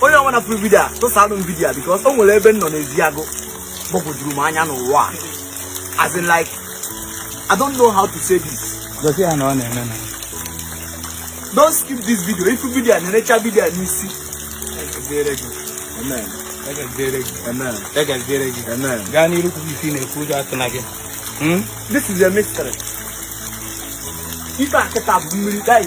onye ọbụna fụrụ vidio a tụsanụ m vidio a because o nwere ebe m nọ n'Eziagụ gbagwojuru m anya n'ụwa a as in like i don't know how to say this gosi ya na ọ na-eme na don't skip this video ị fụ vidio a na-erecha vidio a n'isi egeziere gị amen egeziere gị amen egeziere gị amen gaa n'iru kwube ife ị na-ekwu ụjọ atụna gị Hmm? this is a mystery ife a kịta bụ mmiri guys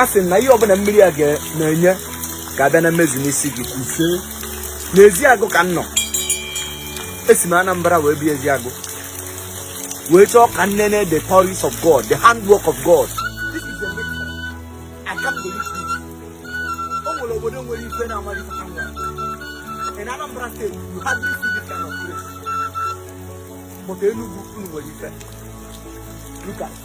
a sị m na ihe ọbụla mmiri a na-enye ga-abịa na mmezu n'isi gị n'Eziagụ ka m nọ esi m Anambra wee bịa Eziagụ wee chọọ ka m nene the glories of God the handwork of God obodo nwere ife na amara ife nwa in Anambra state you hardly see this kind of place but Enugu unu nwere ife look at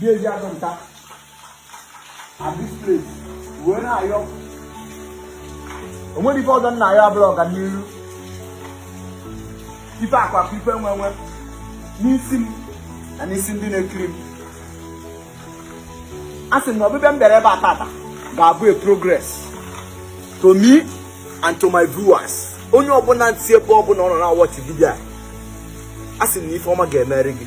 di eji azụ enter this place wee na-ayọ o nwerọ ife ọzọ m na-ayọ abụrọ ọganiru ife akụ akụ ife enwe enwe n'isi m na n'isi ndị na-ekiri m a sị m na ọbịbịa m bịara ebe a tata ga-abụ a progress to me and to my viewers onye ọbụla si ebe ọbụla ọ nọ na-awatch vidio a a sị m na ife ọma ga-emeri gị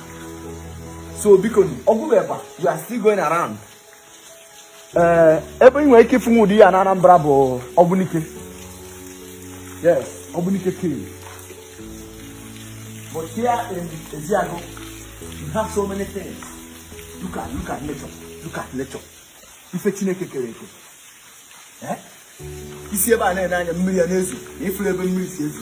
so biko ọ gwụrọ ebe a we are still going around ee eh, ebe ị nwere ike ịfụ ụdị ya na Anambra bụ Ogbunike yes Ogbunike cave but here in Eziagụ you have so many things look at look at nature look at nature ife Chineke kere eke eh? i si ebe a na-ene anya mmiri a na-ezo na ị fụrọ ebe mmiri si ezo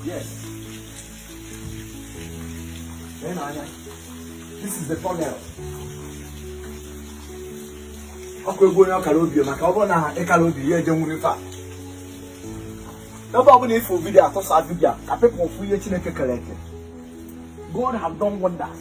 Yes. Then I, this is the tunnel. ọkụ egwu onye ọkara obi maka ọ bụrụ na ị karọ obi ya eje nwere ife a ebe ọbụla ị fụ vidio a tụsa vidio ka people fụ ihe Chineke kere eke God have done wonders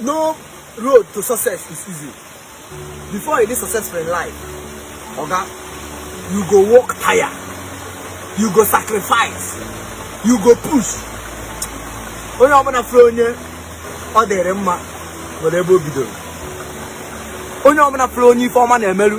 no road to success is easy before you dey successful in life oga you go work tire you go sacrifice you go push onye ọbụla fụrụ onye ọ dịrị mma nwere ebe o bidoro onye ọbụla fụrụ onye ife ọma na-emerụ